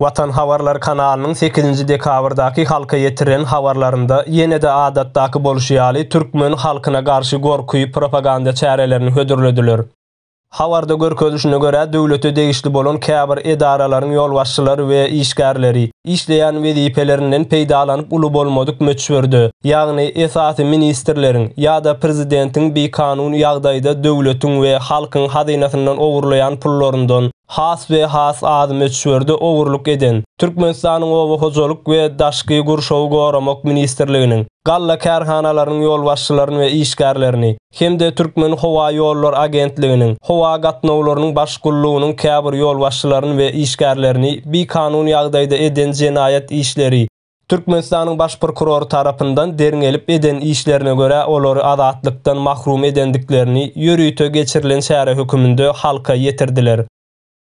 Watan habarlar kanalynyň sekizinji dekabrdaky halka ýetiren habarlarynda ýene-de adatdaky bolşy ýaly türkmen halkyna garşy gorky propaganda çärelerini hödürlediler. Habarda görkezilişine görä, döwlete degişli bolan käbir edaralaryň ýolbaşçylary we işgärleri işleýän wezipelerinden peýdalanyp uly bolmadyk möçberde, ýagny esasy ministrleriň ýa-da prezidentiň bikanun ýagdaýda döwletiň we halkyň hazynasyndan ogurlaýan pullaryndan has we has az möçberde ogurlyk eden Türkmenistanyň Oba hojalyk we daşky gurşawy goramak ministrliginiň galla kärhanalarynyň ýolbaşçylaryny we işgärlerini hem-de Türkmenhowaýollary agentliginiň Howa gatnawlarynyň baş gullugynyň käbir ýolbaşçylaryny we işgärlerini bikanun ýagdaýda eden jenaýat işleri, Türkmenistanyň Baş prokurory tarapyndan derňelip eden işlerine görä olary azatlykdan mahrum edendiklerini ýörite geçirilen çäre höküminde halka ýetirdiler.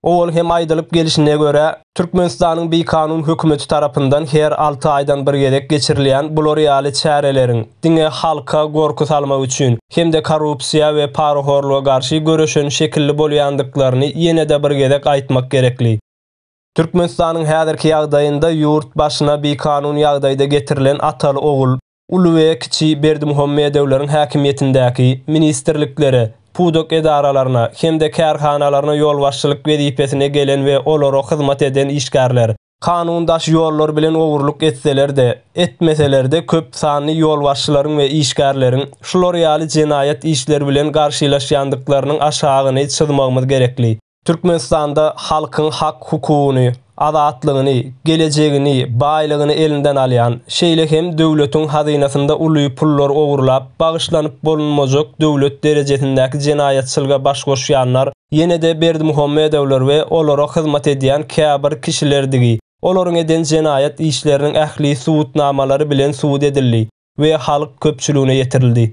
Owal hem aýdylyp gelşine görä, Türkmenistanyň bikanun hökümeti tarapyndan her alty aýdan bir gezek geçirilýän bular ýaly çäreleriň diňe halka gorky salmak üçin hem-de korrupsiýa we parahorluga garşy göreşen şekilli bolýandyklaryny ýene-de bir gezek aýtmak gerekli. Türkmenistanyň häzirki ýagdaýynda ýurt başyna bikanun ýagdaýda getirilen ataly-ogul, uly we kiçi Berdimuhamedowlaryň häkimiýetindäki ministrliklere, pudak edaralaryna hem-de kärhanalaryna ýolbaşçylyk wezipesine gelen we olara hyzmat eden işgärler, kanun daş ýollar bilen ogurlyk etseler-de, etmeseler-de köp sanly ýolbaşçylaryň we işgärleriň şular ýaly jenaýat işleri bilen garşylaşýandyklarynyň aşagyny çyzmagymyz gerekli. Türkmenistanda halkyň hak-hukugyny, azatlygyny, gelejegini, baýlygyny elinden alýan, şeýle hem döwletiň hazynasynda uly pullar ogurlap, bagyşlanyp bolunmajak döwlet derejesindäki jenaýatçylyga baş goşýanlar ýene-de Berdimuhamedowlar we olara hyzmat edýän käbir kişilerdigi olaryň eden jenaýat işleriniň ähli subutnamalary bilen subut edildi we halk köpçüligine ýetirildi.